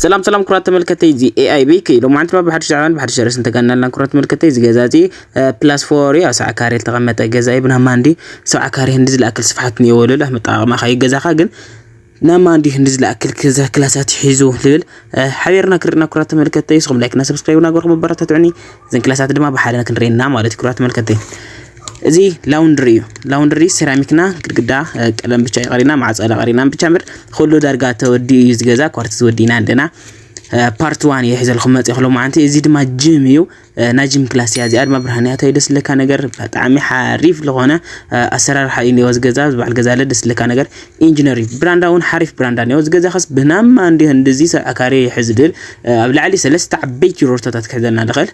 ሰላም ሰላም ኩራት ተመልከተይ እዚ ኤኣይ ቤኪ ሎማዓንቲ ድማ ብሓድሽ ዛዕባን ብሓድሽ ርዕስ እንተጋናልና ኩራት ተመልከተይ እዚ ገዛ እዚ ፕላስ ፎር እዩ ኣብ ሰብዓ ካሬ ዝተቐመጠ ገዛ እዩ ብናማ እንዲ ሰብዓ ካሬ ህንዲ ዝለኣክል ስፍሓት እኒኦ ወለሉ ኣመጣቕማ ካዩ ገዛኻ ግን ናማ እንዲ ህንዲ ዝለኣክል ክዛ ክላሳት ሒዙ ልብል ሓቢርና ክርና ኩራት ተመልከተይ ስኹም ላይክና ሰብስክራይብና ገርኹም ኣበረታትዑኒ እዘን ክላሳት ድማ ብሓደ ክንሪኤና ማለት እዩ ኩራት ተመልከተይ እዚ ላውንድሪ እዩ ላውንድሪ ሴራሚክና ግድግዳ ቀለም ብቻ እዩ ቀሪና ማዕፆ ቀሪና ብቻ ምር ኩሉ ዳርጋ ተወዲኡ እዩ ዝገዛ ኳርቲዝ ወዲእና ኣለና ፓርት ዋን እዩ ሒዘልኩም መፅእኹ ሎማዓንቲ እዚ ድማ ጅም እዩ ናይ ጅም ክላስ እያ እዚኣ ድማ ብርሃን እያ ደስ ዝለካ ነገር ብጣዕሚ ሓሪፍ ዝኾነ ኣሰራርሓ እዩ እኒኦ ዝገዛ ዝበዓል ገዛ ኣለ ደስ ዝለካ ነገር ኢንጂነር እዩ ብራንዳ እውን ሓሪፍ ብራንዳ እኒኦ ዝገዛ ከስ ብናማ እንዲ ህንድዚ ሰብ ኣካሪ ይሕዝድል ኣብ ላዕሊ ሰለስተ ዓበይቲ ሮርቶታት ክሕዘልና ንኽእል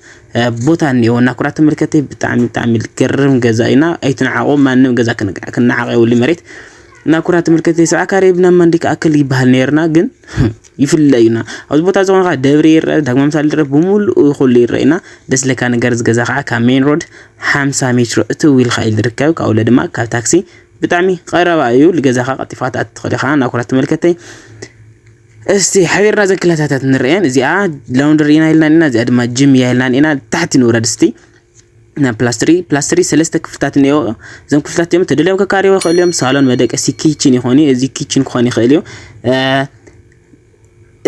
ቦታ እኒኤዎ እና ኩራት ተመልከቲ ብጣዕሚ ብጣዕሚ ዝገርም ገዛ እዩ እና ኣይትንዓቆ ማንም ገዛ ክነዓቅ የብሉ መሬት እና ኩራት ተመልከቲ ሰብዓ ካሬ ብና ማንዲ ክኣክል ይበሃል ነርና ግን ይፍለ እዩና ኣብዚ ቦታ እዚ ኮንካ ደብሪ ይረአ ዳግማ ምሳሌ ይረአ ብምሉኡ ይኩሉ ይረአ እና ደስ ለካ ነገር እዚ ገዛ ከዓ ካብ ሜን ሮድ ሓምሳ ሜትሮ እትው ኢልካ እዩ ዝርከብ ካብኡ ለ ድማ ካብ ታክሲ ብጣዕሚ ቀረባ እዩ ልገዛኻ ቀልጢፍካ ትኣቱ ትኽእል ኢኻ እና ኩራት ተመልከተይ እስቲ ሓቢርና እዘን ክላሳታት ንርኤን እዚኣ ላውንደሪ ኢና ኢልና ኢና እዚኣ ድማ ጅም እያ ኢልና ኢና ታሕቲ ንውረድ እስቲ ናብ ፕላስትሪ ፕላስትሪ ሰለስተ ክፍልታት እኒኦ እዞም ክፍልታት እዮም ተደልዮም ከካሪዎ ይኽእሉ እዮም ሳሎን መደቀሲ ኪችን ይኾኑ እዩ እዚ ኪችን ክኾን ይኽእል እዩ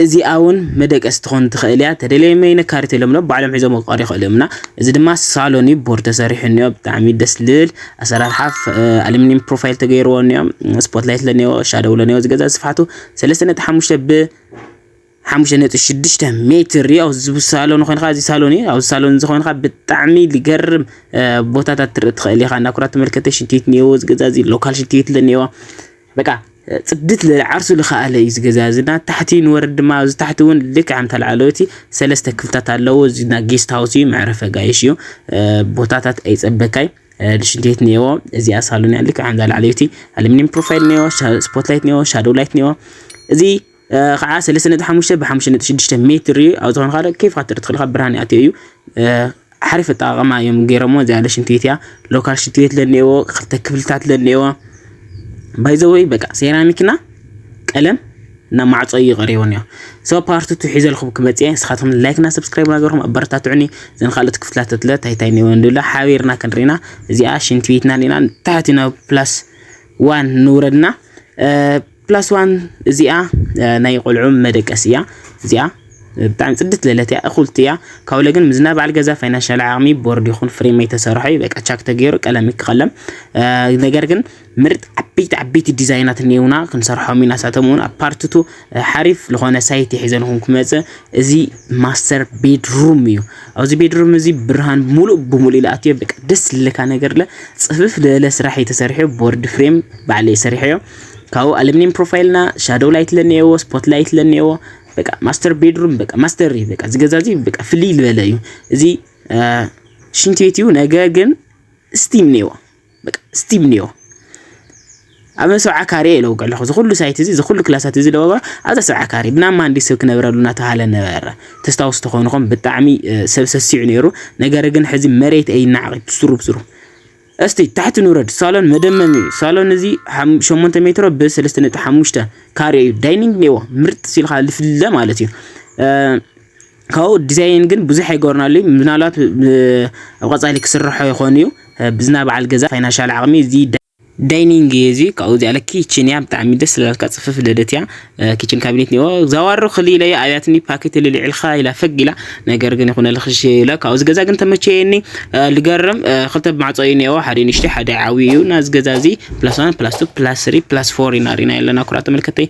እዚኣ እውን መደቀሲ ትኾን ትኽእል እያ ተደልዮም ይነካሪት የሎም ሎ ባዕሎም ሒዞም ክቀሪ ይኽእሉ እዮም እና እዚ ድማ ሳሎን እዩ ቦርድ ተሰሪሑ እኒኦ ብጣዕሚ ደስ ልብል ኣሰራርሓ ኣሉሚኒየም ፕሮፋይል ተገይርዎ እኒኦ ስፖትላይት ለኒኦ ሻደው ለኒኦ ዝገዛ ስፍሓቱ ሰለስተ ነጥቢ ሓሙሽተ ብ ሓሙሽተ ነጥቢ ሽዱሽተ ሜትር እዩ ኣብዚ ሳሎን ኮይንካ እዚ ሳሎን እዩ ኣብዚ ሳሎን እዚ ኮይንካ ብጣዕሚ ዝገርም ቦታታት ትርኢ ትኽእል ኢኻ እንዳ ኩራት ተመልከተ ሽንቲ ቤት እኒአዎ እዚ ገዛ እዚ ሎካል ሽንቲ ቤት እኒአዎ በቃ ፅድት ዝበለ ዓርሱ ዝኸኣለ እዩ እዚ ገዛ እዚ እና ታሕቲ ንወርድ ድማ ኣብዚ ታሕቲ እውን ልክዕ ኣምታ ላዕለወይቲ ሰለስተ ክፍልታት ኣለዎ እዚ ና ጌስት ሃውስ እዩ መዕረፊ ኣጋይሽ እዩ ቦታታት ኣይፀበካይ ልሽንቴት ኔዎ እዚኣ ሳሎን እያ ልክዕ ከምዛ ላዕለይቲ ኣሉሚኒየም ፕሮፋይል ኔዎ ስፖት ላይት ኔዎ ሻዶው ላይት ኔዎ እዚ ከዓ ሰለስተ ነጥቢ ሓሙሽተ ብሓሙሽተ ነጥቢ ሽዱሽተ ሜትር እዩ ኣብ ዝኾነ ካለ ኬፍ ክትርኢ ትኽእል ካብ ብርሃን ይኣትዮ እዩ ሓሪፍ ኣጠቃቅማ እዮም ገይሮሞ እዚኣ ለሽንትቤት እያ ሎካል ሽንትቤት ለኒኤዎ ክልተ ክፍልታት ለኒኤዎ ባይዘወይ በቃ ሴራሚክና ቀለም እና ማዕጾ እዩ ቀሪቡ እንዮ ሶ ፓርት ቱ ሒዘልኩም ክመጽ እየ ንስኻትኩም ላይክ እና ሰብስክራይብ ናገርኩም ኣበረታትዑኒ ዘን ካልኦት ክፍልታት ለ ታይ ታይ እንዮ እንድብላ ሓቢርና ክንሪና እዚኣ ሽንቲ ቤትና ሪና ታሕቲ ናብ ፕላስ ዋን ንውረድና ፕላስ ዋን እዚኣ ናይ ቆልዑ መደቀስ እያ እዚኣ ብጣዕሚ ፅድት ዘለት እያ እኹልቲ እያ ካብለ ግን ምዝና በዓል ገዛ ፋይናንሻል ዓቕሚ ቦርድ ይኹን ፍሬም ኣይተሰርሖ እዩ በቃ ቻክ ተገይሩ ቀለም ይክቐለም ነገር ግን ምርጥ ዓበይቲ ዓበይቲ ዲዛይናት እኔውና ክንሰርሖም ኢና ሳቶም እውን ኣብ ፓርትቱ ሓሪፍ ዝኾነ ሳይት የሒዘልኹም ክመፅእ እዚ ማስተር ቤድሩም እዩ ኣብዚ ቤድሩም እዚ ብርሃን ሙሉእ ብሙሉእ ልኣትዮ በቃ ደስ ልለካ ነገር ለ ፅፍፍ ልእለ ስራሕ እዩ ተሰሪሑ ቦርድ ፍሬም ባዕለ የሰሪሖ እዮ ካብኡ ኣልምኒየም ፕሮፋይልና ሻዶው ላይት ለኒኤዎ ስፖት ላይት ለኒኤዎ በቃ ማስተር ቤድሩም በቃ ማስተር እዩ በቃ ዝገዛ እዚ በቃ ፍልይ ዝበለ እዩ እዚ ሽንቲ ቤት እዩ ነገ ግን ስቲም ኔዎ በቃ ስቲም ኒዮ ኣብ ሰብዓ ካሬ እየ ለውቀ ኣለኹ ዝኩሉ ሳይት እዚ ዝኩሉ ክላሳት እዚ ለበባ ኣብዛ ሰብዓ ካሬ ብናብ ማንዲ ሰብ ክነብረሉ እናተባሃለ ነበረ ተስታውሱ ተኾንኹም ብጣዕሚ ሰብ ሰሲዑ ነይሩ ነገር ግን ሕዚ መሬት እይ ናዕቂ ብስሩ ብስሩ እስቲ ታሕቲ ንውረድ ሳሎን መደመም እዩ ሳሎን እዚ 8 ሜትሮ ብ3.5 ካሬ እዩ ዳይኒንግ ኔዎ ምርጥ ሲልካ ልፍለ ማለት እዩ ካብኡ ዲዛይን ግን ብዙሕ ኣይገበርናሉ እዩ ምናልባት ኣብ ቀጻሊ ክስርሖ ይኾን እዩ ብዝና በዓል ገዛ ፋይናንሻል ዓቕሚ እዚ ዳይኒንግ እዩ እዚ ካብኡ እዚኣ ለ ኪችን እያ ብጣዕሚ ደስ ስላልካ ፅፍፍ ደደት እያ ኪችን ካቢኔት ኒዎ ዛዋሩ ክሊ ኢለያ ኣብያትኒ ፓኬት ልልዕልካ ኢላ ፈግ ኢላ ነገር ግን ይኹነ ልክሽ ኢለ ካብኡ እዚ ገዛ ግን ተመቸየኒ ልገርም ክልተ ማዕፆ እዩ ኒዎ ሓደ ንሽቲ ሓደ ዓብዩ እዩ እና እዚ ገዛ እዚ ፕላስ ዋን ፕላስ ቱ ፕላስ ስሪ ፕላስ ፎር ኢና ሪና ኣለና ኩራ ተመልከተይ